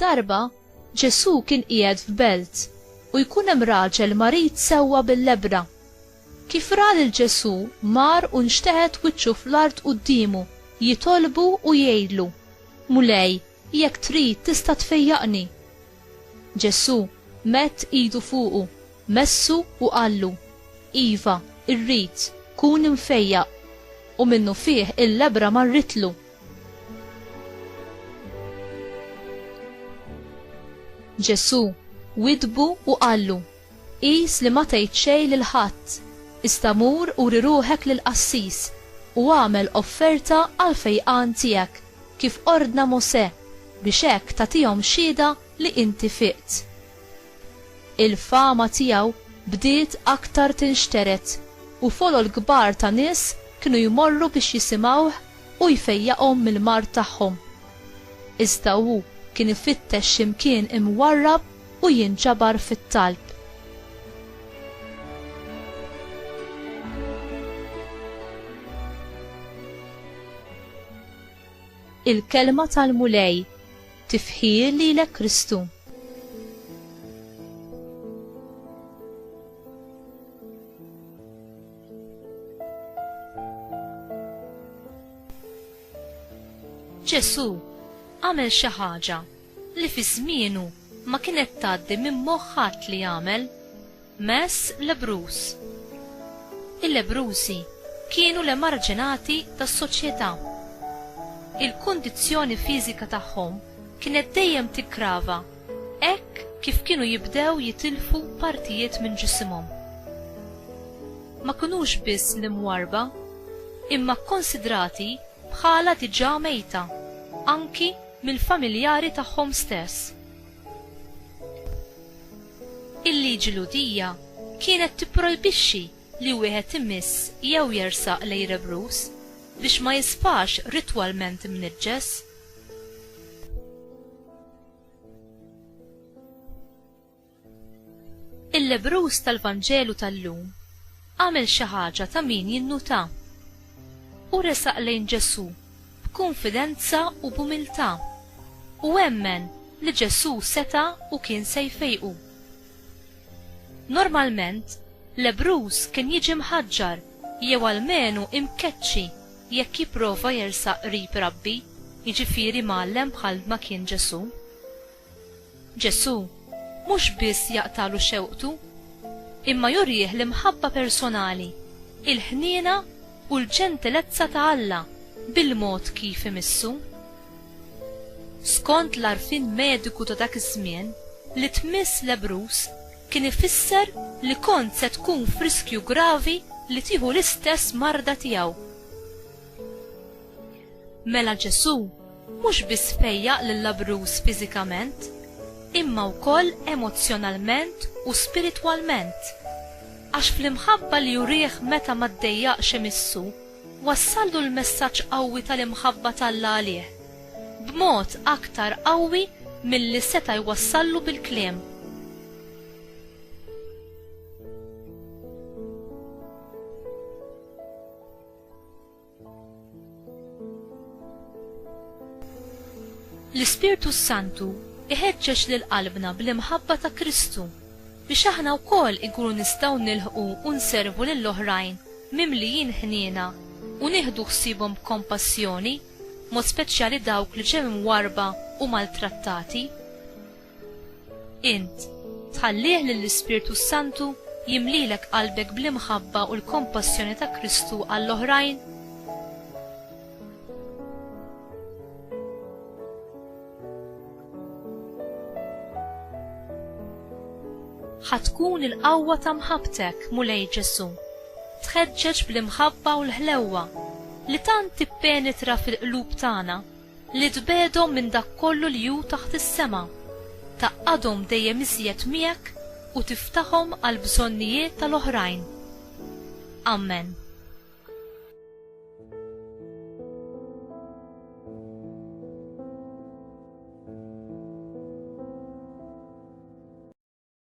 Darba Ġesù kien qiegħed f'belt u jkun hemm raġel marid sewwa bil-lebra. Kif ra lil Ġesù mar u nxteħet wiċċu fl-art quddiemu jitolbu u jgħidlu, Mulej, Jekk trid tista' tfejjaqni. Ġesù medd idu fuqu, messu u qallu, Iva, irrid, kun imfejjaq. U minnufih il-lebbra marritlu. Ġesù widdbu u qallu, Qis li ma tgħid xejn lil ħadd, iżda mur uri ruħek lill-qassis u agħmel offerta għall-fejqan tiegħek. kif ordna Mosè, biex hekk tagħtihom xhieda li inti fiqt. Il-fama tiegħu bdiet aktar tinxtered u folol kbar ta' nies kienu jmorru biex jisimgħuh u jfejjaqhom mill-mard tagħhom. Iżda hu kien ifittex xi mkien imwarrab u jinġabar fit-talb. Il-kelma tal-Mulej tifħir lilek Kristu. Ġesu għamel xi ħaġa li fi żmienu ma kienet tgħaddi minn moħħat li jagħmel. Mezz lebruż. Il-lebrużi kienu l-emarġinati tas-soċjetà. Il-kundizzjoni fiżika tagħhom kienet dejjem tiggrava hekk kif kienu jibdew jitilfu partijiet minn ġisimhom. Ma kinux biss l-imwarrba, imma kkonsidrati bħala diġà mejta anki mill-familjari tagħhom stess. Il-Liġi Lhudija kienet tipprojbixxi li wieħed imiss jew jersaq lejn lebruż biex ma jisfax ritwalment imniġġes. Il-lebruż tal-Vanġelu tal-lum għamel xi ħaġa ta' min jinnutha. Hu resaq lejn Ġesù b'kunfidenza u b'umiltà, u emmen li Ġesù seta' u kien se jfejqu. Normalment, lebbruż kien jiġi mħaġġar jew almenu imkeċċi jekk jipprova jersaq qrib rabbi, jiġifieri mgħallem bħalma kien Ġesù. Ġesù mhux biss jaqtagħlu xewqtu, imma jurih l-imħabba personali, il-ħniena u l-ġentilezza ta' Alla bil-mod kif imissu. Skont l-għarfien mediku ta' dak iż-żmien, li tmiss lebbruż kien ifisser li kont se tkun f'riskju gravi li tieħu l-istess marda tiegħu. Mela Ġesù mhux biss fejjaq lil-labruż fiżikament, imma wkoll emozzjonalment u spiritwalment, għax fl-imħabba li urih meta ma ddejjaqx imissu, wassallu l-messaġġ qawwi tal-imħabba t'Alla għalih, b'mod aktar qawwi milli seta' jwassallu bil-kliem. L-Ispirtu s-Santu iħeġġeġ lil qalbna bl-imħabba ta' Kristu biex aħna wkoll inkunu nistgħu nilħqu u nservu lil oħrajn mimlijin ħniena u nieħdu ħsiebhom b'kompassjoni, mod speċjali dawk li ġew imwarrba u maltrattati. Int, tħallih lill-Ispirtu s-Santu jimlilek qalbek bl-imħabba u l-kompassjoni ta' Kristu għall-oħrajn? ħatkun il-qawwa ta' mħabbtek, Mulej Ġesu, tħeġġeġ bl-imħabba u l-ħlewwa li tant tippenetra fil-qlub tagħna li tbegħedhom minn dak kollu li hu taħt is-sema, tgħaqqadhom dejjem iżjed miegħek u tiftahom għall-bżonnijiet tal-oħrajn. Ammen.